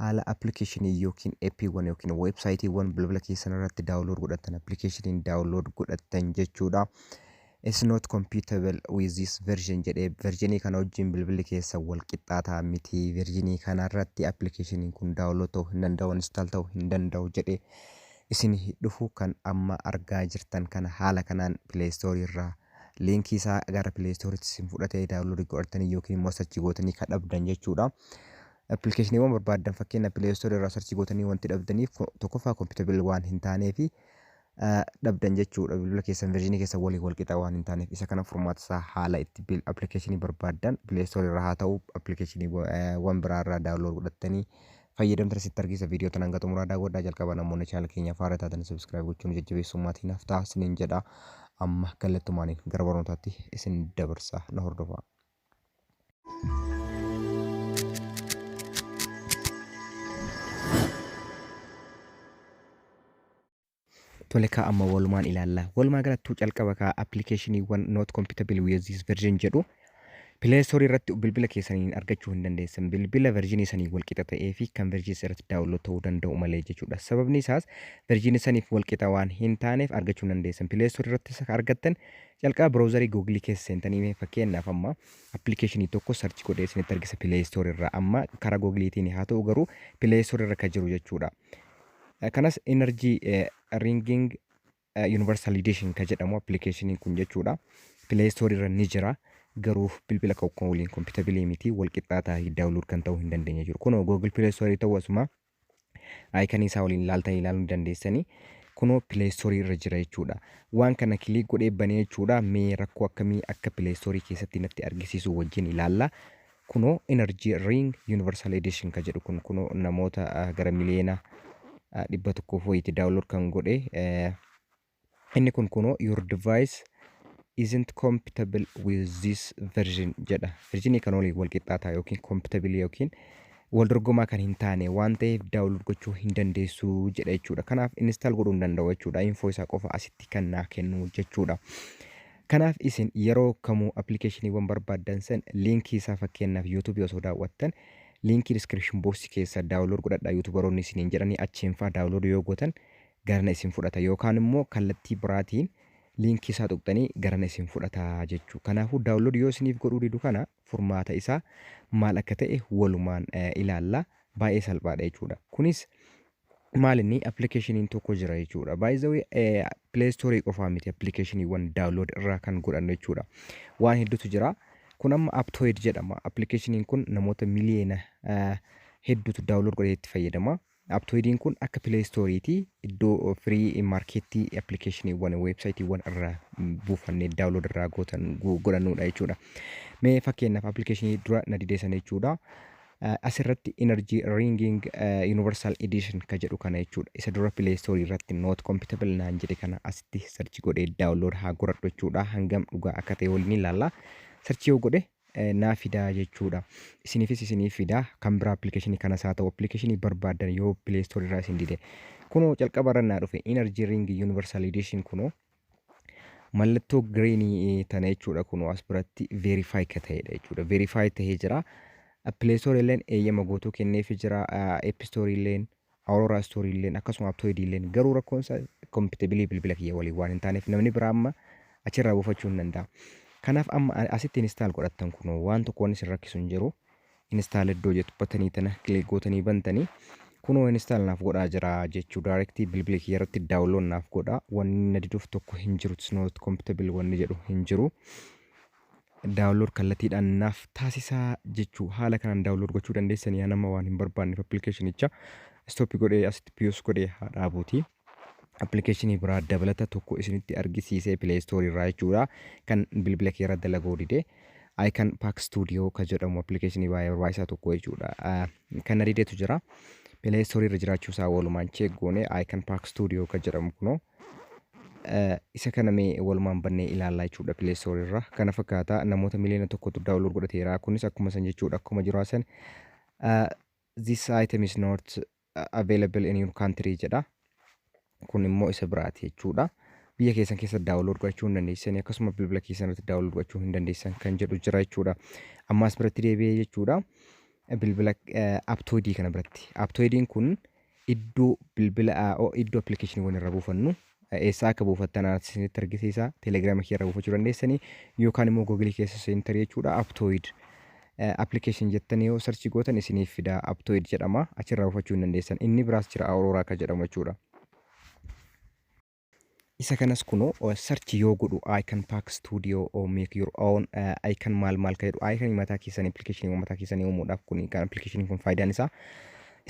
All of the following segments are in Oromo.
Haala application ykn app wwan ykn website wwan bilbila keessan irratti download godhattan application download godhattan jechuudha. It's not compatible with this version jedhee versionii kana wajjin bilbilli keessan wal qixxaataa miti versionii kana irratti application kun download ta'uu hin danda'u install ta'uu hin danda'u jedhee isin dhufu kan amma argaa jirtan kana haala kanaan play store irraa liinkii isaa gara play store itti isin fudhatee download godhattanii yookiin immoo sachi gootanii kan dhabdan jechuudha. Appilikeeshiniiwwan barbaaddan fakkeenya Play Store irraa sarchii gootanii wanti dhabdaniif ko- tokkoffaa compatible waan hin taanee fi ah, dhabdan jechuudha bilbila keessan version keessan waliin wal qixaa waan hin taaneef isa kana furmaata isaa haala itti bil- appilikeeshinii barbaaddan Play Store irraa haa ta'u appilikeeshiniiwwan biraa irraa download godhattanii fayyadamtan asitti argisiisa viidiyoo tan hanga xumuraa daawwadhaa jalqaba namoonni chaanala keenya faara taatan subscribe gochuun jajjabeessuu maatii naaf ta'a isiniin jedha amma gallattumaaniin gara barnootaatti isin dabarsa na hordofaa. Tole kaa amma walumaan ilaalla. Walumaa galattuu calqaba kaa appilikeeshiniiwwan not compatible with this version jedhu Play Store irratti bilbila keessaniin argachuu hin dandeessan. Bilbila versionii sanii walqixa ta'ee fi kan versionii irratti daawunlood ta'uu danda'u malee jechuudha. Sababni isaas versionii saniif walqixa waan hin taaneef argachuu hin dandeessan. Play Store irratti isa argattan Jalqaba browser google keessa seentanii mee fakkeenyaaf amma application tokko search godhee isinitti argisa play store irraa amma karaa google tiin haa ta'u garuu play store irra kan jiru jechuudha. Kanas energy ringing universal edition kan jedhamu application kun jechuudha. Play store irra ni jira. garuu bilbila kan waliin kompitabilii miti wal qixxaataa download kan ta'uu hin dandeenye jiru. Kunoo Google Play Store ta'uu asuma Icon isaa waliin ilaaltanii ilaaluu ni dandeessanii. Kunoo Play Store irra jira jechuudha. Waan kana kiliik godhee banee jechuudha. Mee rakkoo akkamii akka Play Store keessatti natti argisiisu wajjin ilaalla. Kunoo Energy Ring Universal Edition ka jedhu kun kunoo namoota ah, gara miliyoona ah, dhibba tokkoof wayiiti daawunlood kan godhe eh, Inni kun kunoo your device isn't compatible with this version jedha. Version kan waliin wal qixxaataa yookiin compatible yookiin wal dorgomaa kan hin taane waan ta'eef download gochuu hin dandeessu jedha jechuudha. Kanaaf install godhuu hin danda'u jechuudha. Info isaa qofa asitti kan naa kennu jechuudha. Kanaaf isin yeroo kamuu appilikeeshiniiwwan barbaaddan san liinkii isaa fakkeenyaaf YouTube osoo daawwattan liinkii description box keessa download godhadhaa YouTuberoonni isiniin jedhanii achiin faa download yoo gootan garana isin fudhata yookaan immoo kallattii biraatiin liinkii isaa tuqxanii garana isin fudhata jechuu kanaafuu download yoo isiniif godhuu didu kana furmaata isaa maal akka ta'e walumaan ilaalla baay'ee salphaadha jechuudha kunis maal inni appilikeeshiniin tokko jira jechuudha by the way play store qofaa miti appilikeeshiniiwwan download irraa kan godhannu jechuudha waan hedduutu jira kun amma aptoid jedhama appilikeeshiniin kun namoota miliyeena hedduutu download godhee itti fayyadama Aptoidiin kun akka play store ti iddoo free market applicationiwwan websiteewwan irra buufanne download irraa gootan godhannuudha jechuudha. Mee fakkeenyaaf applicationii dura na didee sana jechuudha. Asirratti energy ringing universal edition ka jedhu kana jechuudha. Isa dura play store irratti not compatible naan jedhe kana asitti search godhee download haa godhadhu jechuudha. Hangam dhugaa akka ta'e waliin ilaalla. Search yoo godhe naaf fidaa jechuudha. Isiniifis isiniif fida. Kan biraa appilikeeshinii kanas haa ta'u appilikeeshinii barbaaddan yoo Play Store irraa isin dide. Kunoo calqaba irra naa dhufe Energy Ring Universal Edition kunoo mallattoo greenii tana jechuudha kunoo as biratti verify ka ta'edha jechuudha. Verify ta'ee jira. Play Store illeen eeyyama guutuu kenneefi jira. App Store illeen Aurora Story illeen akkasuma Aptoid illeen garuu rakkoon isaa compatibility bilbila kiyya waliin waan hin taaneef namni biraa amma achirraa buufachuu hin danda'a. Kanaaf amma a- asitti install godhattan kunoo waan tokko waan isin rakkisu hin jiru. Install iddoo jettu batanii tana click gootanii bantanii kunoo install naaf godhaa jira jechuu directly bilbila kiyya irratti download naaf godhaa wanni na diduuf tokko hin jiru it's not compatible wanni jedhu hin jiru. Download kallatiidhaan naaf taasisaa jechuu haala kanaan download gochuu dandeessanii yaa nama waan hin barbaanneef appilikeeshinicha stop godhee asitti piyus godhee haa dhaabuuti. Appilikeeshinii biraa dabalata tokko isinitti argisiisee play store irraa jechuudha kan bilbila kee irra dalaguu dide. Icon Pack Studio kan jedhamu appilikeeshinii baay'ee barbaachisaa tokko jechuudha. Ah, Kan na didetu jira. Play store irra jiraachuu isaa walumaan check goone Icon Pack Studio kan jedhamu kunoo Isa kana mee walumaan bannee ilaallaa jechuudha Play Store irraa. Kana fakkaata namoota miliyoona tokkotu download godhateera. Kunis akkuma san jechuudha akkuma jiru san this item is not available in your country jedha. Kun immoo isa biraati jechuudha. Biyya keessan keessa download godhachuu hin dandeessan akkasuma bilbila keessan irratti download godhachuu hin dandeessan kan jedhu jira jechuudha. Ammaas biratti deebi'ee jechuudha. Bilbila aptoidii kana biratti. Aptoidiin kun Iddoo bilbila iddoo appilikeeshiniiwwan irra buufannu eessaa akka buufattan anatti isinitti argisiisa. Telegiraama kiyya irra buufachuu dandeessanii yookaan immoo googilii keessa seentari jechuudha aptooyid appilikeeshin jettanii yoo sarchii gootan isiniif fida aptooyid jedhama achirraa buufachuu hin dandeessan. Inni biraas jira aurooraa akka jedhamu jechuudha. Isa kanas kuno search yoo godhu icon pack studio or make your own uh, icon maal maal ka jedhu icon mataa keessan application mataa keessan uumuudhaaf kun kan application kun faayidaan isaa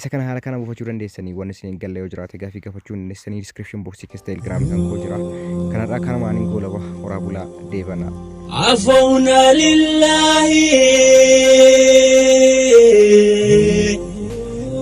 isa kana haala kana buufachuu dandeessanii waan isin hin galle yoo jiraate gaafii gaafachuu hin dandeessanii description box keessa telegram kan koo jira kanarraa kana maaniin goolaba horaa bulaa deebanaa. عفونا لله